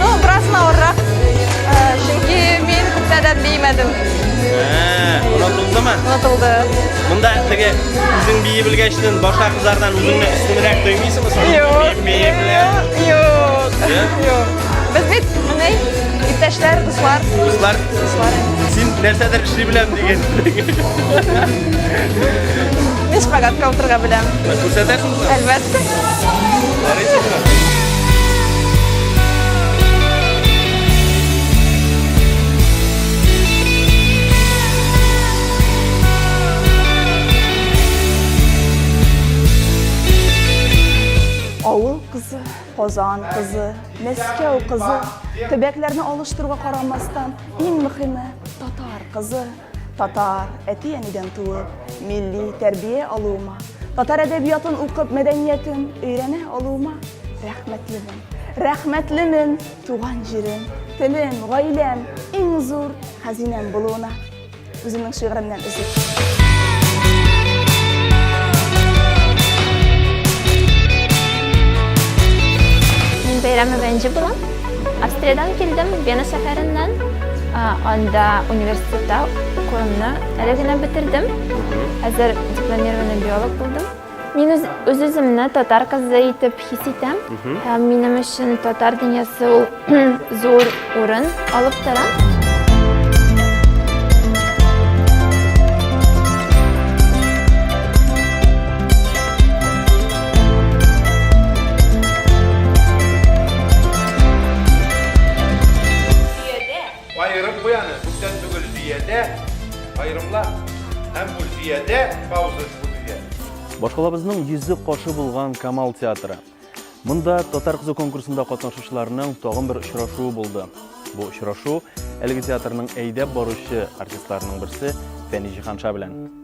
Ну, бераз авыррак. Чөнки мин күптәдән беймәдем. Онытылдымы? Онытылды. Монда теге үзең бии белгәчтен башка кызлардан үзеңне өстенрәк тоймыйсыңмы? Юк. Юк. Юк. Без бит менә иптәшләр, дуслар. Дуслар. Дуслар. Син нәрсәдер эшли беләм дигән. Мин шпагатка утырга беләм. Күрсәтәсеңме? Әлбәттә. Авыл кызы, Казан кызы, Мәскәү кызы, төбәкләрне алыштыруга карамастан, иң мөхиме татар кызы. Татар, әти-әнидән туып, милли тәрбия алуыма, татар әдәбиятын укып, мәдәниятен өйрәнә алуыма рәхмәтлемен. Рәхмәтлемен туган җирем, телем, гаиләм, иң зур хәзинәм булуына. Үземнең шигыремнән өзек. Мин бәйрәме бәнҗе булам. Австриядән килдем, Вена шәһәреннән. Анда университетта укуымны әле генә бетердем. Хәзер дипломированный биолог булдым. Мин үз-үземне татар кызы итеп хис итәм. Һәм минем өчен татар дөньясы ул зур урын алып тора. Аерым буяны күптән түгел Зиядә, аерымлар һәм бу Зиядә пауза күзгә. Башкалабызның йөзе кошы булган Камал театры. Монда татар кызы конкурсында катнашучыларның тагын бер очрашуы булды. Бу очрашу әлеге театрның әйдәп баручы артистларының берсе Фәни Җиһанша белән.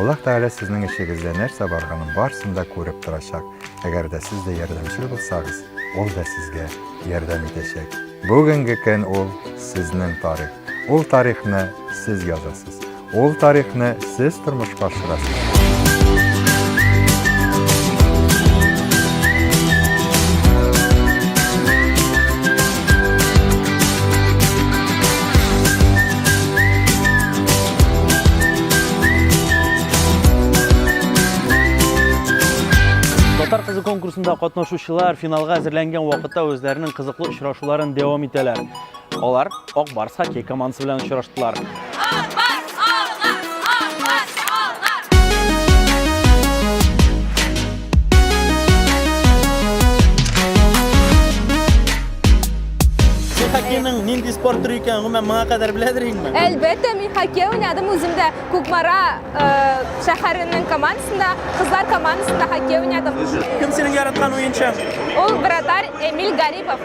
Аллаһ Тәгалә сезнең эшегездә нәрсә барганын барсын да күреп торачак. Әгәр дә сез дә ярдәмчел булсагыз, Ул да сезгә ярдәм итәчәк. Бүгенге көн ул сезнең тарих. Ул тарихны сез язасыз. Ул тарихны сез тормышка ашырасыз. Татар кызы конкурсында катнашучылар финалга әзерләнгән вакытта үзләренең кызыклы очрашуларын дәвам итәләр. Алар Ак Барс хоккей командасы белән очраштылар. хоккейның нинди спорт түрі екенін гомумән моңа кадәр беләдер инде әлбәттә мин хоккей уйнадым үзем дә кукмара э, шәһәренең командасында кызлар командасында хоккей уйнадым кем синең яраткан уенчың ул вратарь эмиль гарипов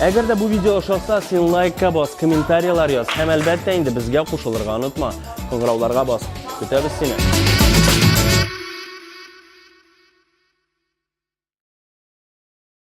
Әгәр дә бу видео ошаса, син лайкка бас, комментарияләр яз һәм әлбәттә инде безгә кушылырга онытма. Кыңгырауларга бас. Көтәбез сине.